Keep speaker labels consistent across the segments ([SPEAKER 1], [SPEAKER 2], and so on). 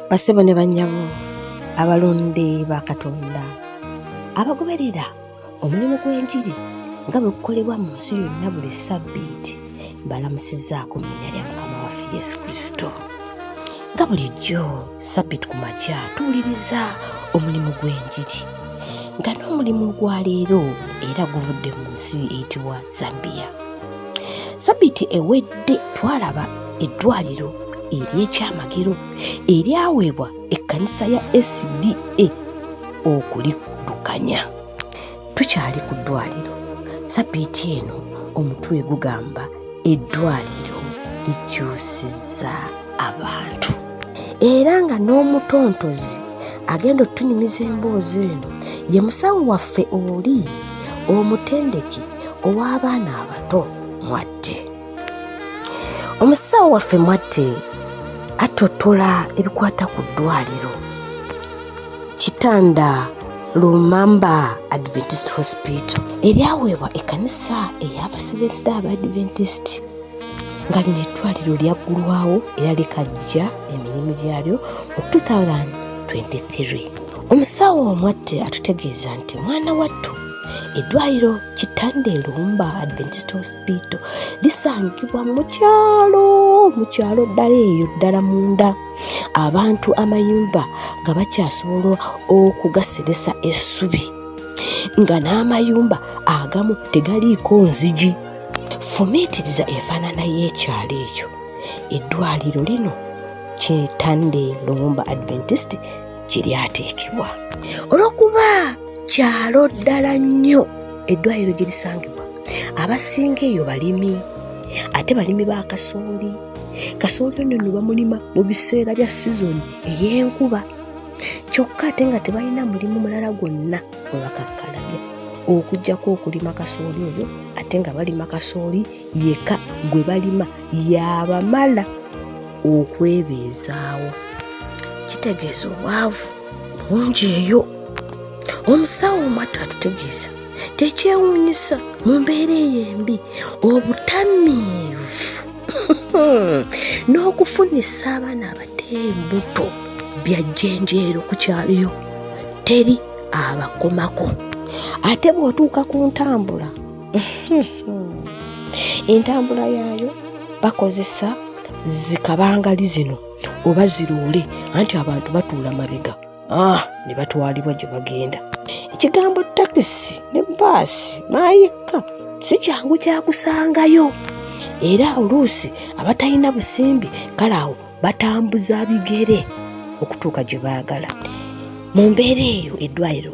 [SPEAKER 1] basebo ne bannyabo abalonde ba katonda abagoberera omulimu gw'enjiri nga bwe kukolebwa mu nsi yonna buli ssabbiiti mbalamusizaako mu linya lya mukama waffe yesu kristo nga bulijjo sabbit ku makya tuwuliriza omulimu gw'enjiri nga n'omulimu ogwaleero era guvudde mu nsi eyitibwa zambiya sabbiti ewedde twalaba eddwaliro ery'ekyamagero eryaweebwa ekkanisa ya sda okuliddukanya tukyali ku ddwaliro sabiiti eno omutwe gugamba eddwaliro likyusizza abantu era nga n'omutontozi agenda okutunyumiza emboozi eno ye musawo waffe oli omutendeki ow'abaana abato mwatte omusawo waffe mwatte attotola ebikwata ku ddwaliro kitanda lumamba adventist hospital eryaweebwa ekkanisa ey'abasevensi da abadventist nga lino eddwaliro lyaggulwawo era likajja emirimu gyalyo mu 2023 omusawo omwatte atutegeeza nti mwana wattu eddwaliro kitanda elumba adventist hospital lisangibwa mukyalo mukyalo ddala eyo ddala munda abantu amayumba nga bakyasobola okugaseresa essubi nga n'amayumba agamu tegaliiko nzigi fumiitiriza efaanana y'ekyalo ekyo eddwaliro lino kyetande lumumba adventist gye lyateekebwa olw'okuba kyalo ddala nnyo eddwaliro gye lisangibwa abasinga eyo balimi ate balimi ba kasooli kasooli ono no bamulima mu biseera bya sizoni ey'enkuba kyokka ate nga tebalina mulimu mulala gwonna gwe bakakkalabya okuggyako okulima kasooli oyo ate nga balima kasooli yeka gwe balima yabamala okwebeezaawo kitegeeza obwavu bungi eyo omusawo omwattu atutegeeza tekyewuunyisa mu mbeera eyo embi obutamiivu hmm. n'okufunisa abaana abato embuto bya jjenjeero ku kyaliyo teri abakomako ate bw'otuuka ku ntambula entambula yaayo bakozesa zikabangali zino oba ziroole anti abantu batuula mabega ah, ne batwalibwa gye bagenda ekigambo takisi ne baasi maayikka si kyangu kyakusangayo era oluusi abatalina busimbi kale awo batambuza bigere okutuuka gye baagala mu mbeera eyo eddwaliro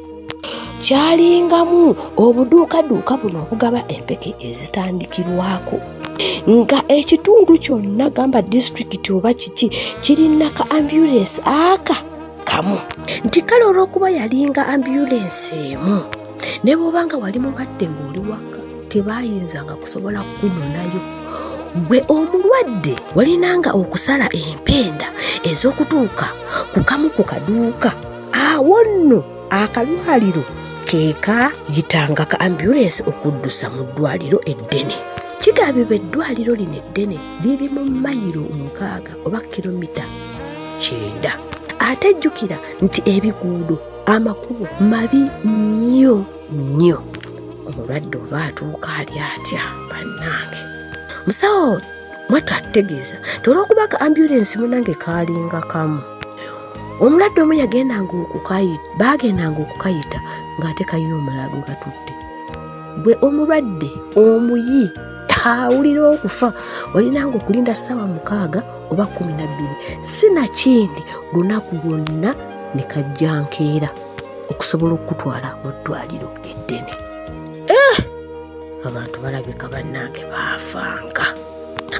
[SPEAKER 1] kyalingamu obuduukaduuka buno obugaba empeke ezitandikirwako nga ekitundu kyonna gamba disitulikiti oba kiki kirina ka ambulensi aka kamu nti kale olw'okuba yalinga ambulensi emu ne bwobanga wali mulwadde ng'oli waka tebayinzanga kusobola kukunonayo gwe omulwadde walinanga okusala empenda ez'okutuuka ku kamu ku kaduuka awo nno akalwaliro keeka yitanga ka ambulensi okuddusa mu ddwaliro eddene kigambibwa eddwaliro lino eddene liri mu mayiro mukaaga oba kilomita kyenda ate jjukira nti ebiguudo amakubo mabi nnyo nnyo omulwadde oba atuuka ali atya bannange musawo mwattu atutegeeza nti olwokuba ka ambulensi munange kaalinga kamu omulwadde omu yagendanga okukayita baagendanga okukayita ng'ate kalina omulaago gatutte gwe omulwadde omuyi awulira okufa olinanga okulinda ssaawa mukaaga oba kumi na bbiri si nakindi lunaku lwonna ne kajja nkeera okusobola okukutwala mu ddwaliro eddene eh! abantu balabika bannange baafanga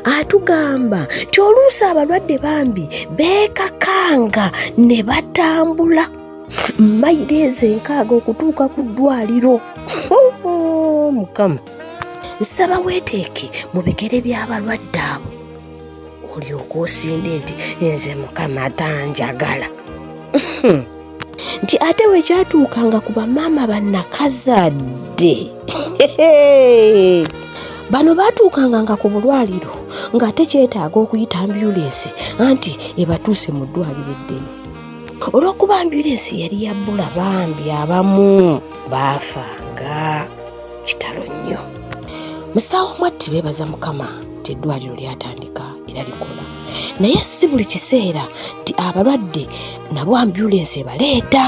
[SPEAKER 1] atugamba nti oluusi abalwadde bambi beekakanga ne batambula mayiro ezo enkaaga okutuuka ku ddwaliro oh, mukama nsaba weeteeke mu bigere by'abalwadde abo olyoka osinde nti nze mukama tanjagala nti ate bwe kyatuukanga ku bamaama bannakazadde bano baatuukanga nga ku bulwaliro ng'ate kyetaaga okuyita ambyulensi anti ebatuuse mu ddwaliro eddene olw'okuba ambyulensi yali yabbula bambi abamu baafanga kitalo nnyo musawo mwatti beebaza mukama nti eddwaliro lyatandika era likola naye si buli kiseera nti abalwadde nabo ambulensi ebaleeta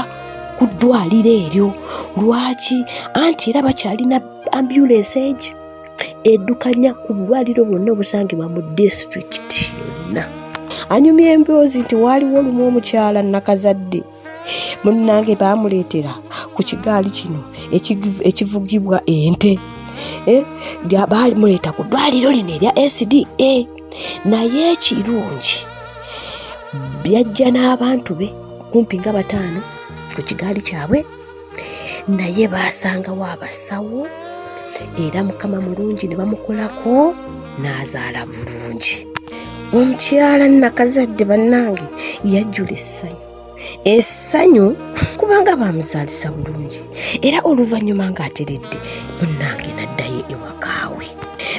[SPEAKER 1] ku ddwaliro eryo lwaki anti era bakyalina ambulensi egi eddukanya ku bulwaliro bwonna obusangibwa mu disitulikiti yonna anyumya emboozi nti waaliwo olumu omukyala nakazadde munnange baamuleetera ku kigaali kino ekivugibwa ente eh, baamuleeta ku ddwaliro lino erya sda eh, naye ekirungi byajja n'abantu be kumpi nga bataano ku kigaali kyabwe naye baasangawo abasawo era mukama mulungi ne bamukolako n'azaala bulungi omukyala nakazadde bannange yajjula essanyu essanyu kubanga baamuzaalisa bulungi era oluvannyuma ng'ateredde munnange naddayo ewakaawe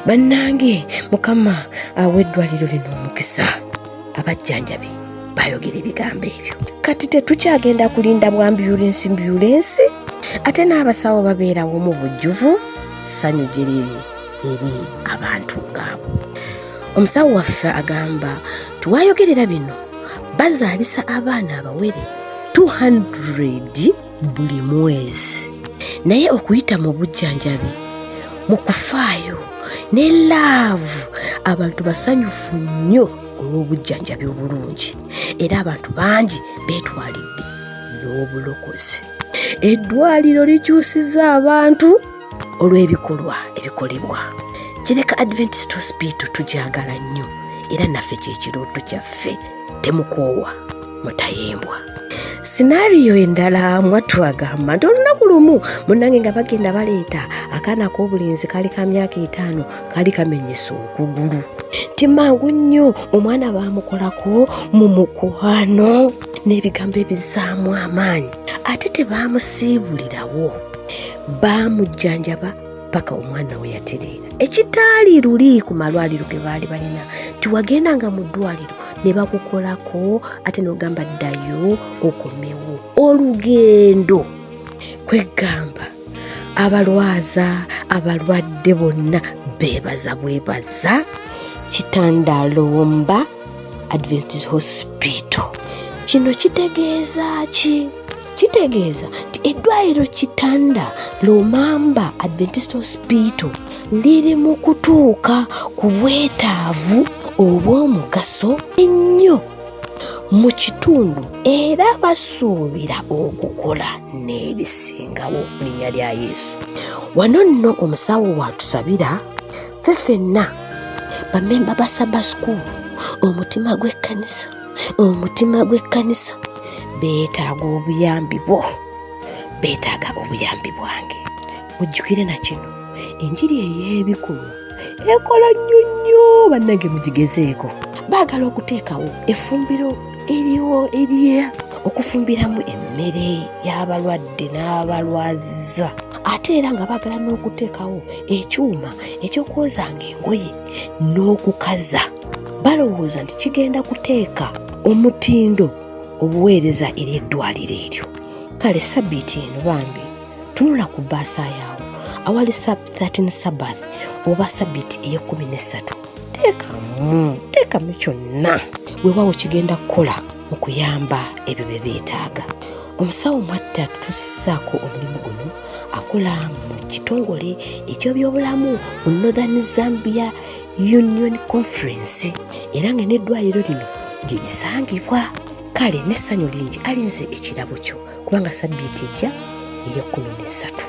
[SPEAKER 1] bannange mukama awa eddwaliro lino omukisa abajjanjabi bayogera ebigambo ebyo kati tetukyagenda kulinda bwambyulensi mbyulensi ate n'abasawo babeerawo mu bujjuvu ssanyu gyeriri eri abantu ngaabo omusawo waffe agamba tiwayogerera bino bazaalisa abaana abawere 200 buli mwezi naye okuyita mu bujjanjabi mu kufaayo ne laavu abantu basanyufu nnyo olw'obujjanjabi obulungi era abantu bangi beetwalidde n'obulokozi eddwaliro likyusiza abantu olw'ebikolwa ebikolebwa kireka adventist hospital tugyagala nnyo era naffe kyekirooto kyaffe temukoowa mutayimbwa sinaariyo endala mwatwagamba nti olunaku lumu munange nga bagenda baleeta akaana k'obulenzi kali ka myaka etaano kali kamenyesa okugulu nti mangu nnyo omwana baamukolako mu mukwano n'ebigambo ebizaamu amaanyi ate tebaamusiibulirawo baamujjanjaba paka omwana we yatereera ekitaali luli ku malwaliro ge baali balina tiwagenda nga mu ddwaliro ne bakukolako ate n'ogamba ddayo okomewo olugendo kwegamba abalwaza abalwadde bonna beebaza bwebaza kitandalomba adventist hospital kino kitegeeza ki kitegeeza nti eddwaliro kitanda lumamba adventist hospital liri mu kutuuka ku bwetaavu obw'omugaso ennyo mu kitundu era basuubira okukola n'ebisingawo mu linnya lya yesu wano nno omusawo waatusabira ffe fenna bamemba ba saba school omutima gw'ekkanisa omutima gw'ekkanisa beetaaga obuyambi bwo beetaaga obuyambi bwange mujjukire na kino enjiri ey'ebikumu ekola nnyo nnyo bannange mugigezeeko baagala okuteekawo efumbiro eriwo eriye okufumbiramu emmere y'abalwadde n'abalwaziza ate era nga baagala n'okuteekawo ekyuma ekyokwozanga engoye n'okukaza balowooza nti kigenda kuteeka omutindo obuweereza eri eddwaliro eryo kale sabbiiti eno bambi tunula ku bbaasa yaawo awali sab 13 sabath oba sabbiiti ey'ekkumi n'essatu teekamu teekamu kyonna weewaawo kigenda kukola mu kuyamba ebyo bye beetaaga omusawo mwatta tutuusizaako omulimu guno akola mu kitongole ekyobyobulamu mu northern zambia union conference era nga n'eddwaliro lino gye lisangibwa kale n'essanyu lingi alinze ekirabo kyo kubanga sabbiiti ejja ey'ekkumi n'essatu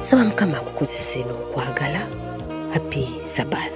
[SPEAKER 1] saba mukama akukozese n'okwagala happy sabbath